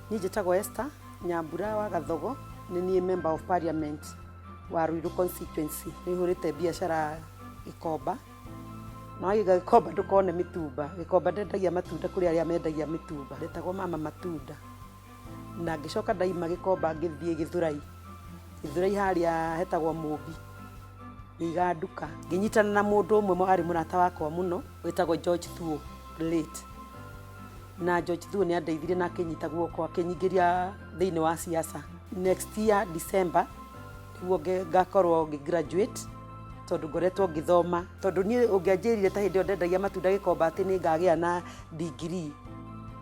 Niĩ njĩtagwo Esther Nyambura wa Gathogo, nĩ niĩ member of parliament wa Ruiru constituency. Nĩ hũrĩte biacara Gĩkomba, na wagĩga Gĩkomba ndũkone mĩtumba. Gĩkomba ndendagia matunda kũrĩ arĩa mendagia mĩtumba. Ndetagwo mama matunda. na ngĩcoka ndaima gĩkomba ngĩthiĩ gĩthurai gĩthurai harĩa hetagwo mũmbi ngĩiga nduka ngĩnyitana na mũndũ ũmwe mwa- arĩ mũrata wakwa mũno wĩtagwo george thuo late na george thuo nĩ andeithirie na akĩnyita guoko akĩnyingĩria thĩinĩ wa siasa next year december nĩguo nge- ngakorwo ngĩ graduate tondũ ngoretwo ngĩthoma tondũ niĩ ũngĩanjĩrire ta hĩndĩ ĩyo ndendagia matunda gĩkomba atĩ nĩ ngagĩa na ndigiri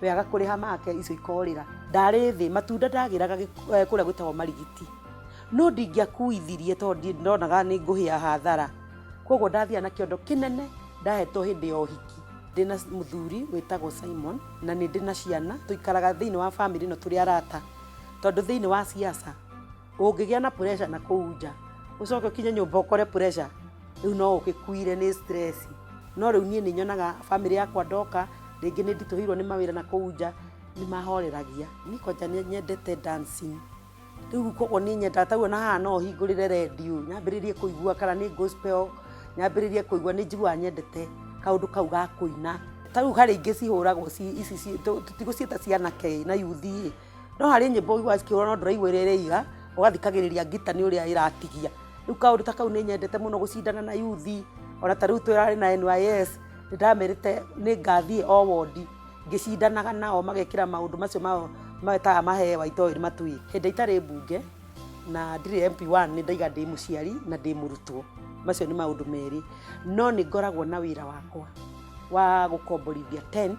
we aga kũrĩha make icio ikorĩra ndarĩ thĩ matunda ndagĩraga gĩk- eh, kũrĩa gwĩtagwo marigiti no ndingĩakuithirie tondũ ndi- ndonaga nĩ ngũhĩa hathara koguo ndathiaga na kĩondo kĩnene ndahetwo hĩndĩ ya ũhiki ndĩ na mũthuri wĩtagwo simon na nĩ ndĩ na ciana tũikaraga thĩinĩ wa bamĩrĩ ĩno tũrĩ arata tondũ thĩinĩ wa siasa Ũngĩgĩa na pressure na kũu nja, ũcoke ũkinye nyũmba ũkore pressure, rĩu no ũgĩkuire nĩ stress. No rĩu niĩ nĩ nyonaga family yakwa ndoka, rĩngĩ nĩ nditũhĩirwo nĩ mawĩra na kũu nja, nĩ mahoreragia. Niĩ kwanja nĩ nyendete dancing. Rĩu kwoguo niĩ nyendaga ta rĩu ona haha no hingũrĩre redio, nyambĩrĩrie kũigua kana nĩ gospel, nyambĩrĩrie kũigua, nĩ njiguaga nyendete kaũndũ kau ga kũina. Ta rĩu harĩa ingĩ cihũragwo ici, tũtigũciĩta cia anake ĩ, na yuthi ĩ. no harĩ nyĩmbo ũiguaga cikĩhũra no ndũraigua ĩrĩa ĩraiga ũgathikagĩrĩria ngita nĩ ũrĩa ĩratigia rĩu kaũndũ ta kau nĩ nyendete mũno gũcindana na yuthi ona ta rĩu tũrarĩ na NYS nĩ ndamerĩte nĩ ngathiĩ o wondi ngĩcindanaga nao magekĩra maũndũ macio mao metaga mahewa itoĩ matui hĩndĩ itarĩ mbunge na ndirĩ MP1 nĩ ndaiga ndĩ mũciari na ndĩ mũrutwo macio nĩ maũndũ merĩ no nĩ ngoragwo na wĩra wakwa wa gũkomborithia tent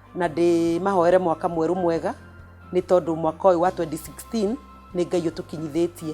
na ndĩmahoere mwaka mwerũ mwega nĩ tondũ mwaka ũyũ wa 2016 nĩ ngai ũtũkinyithĩtie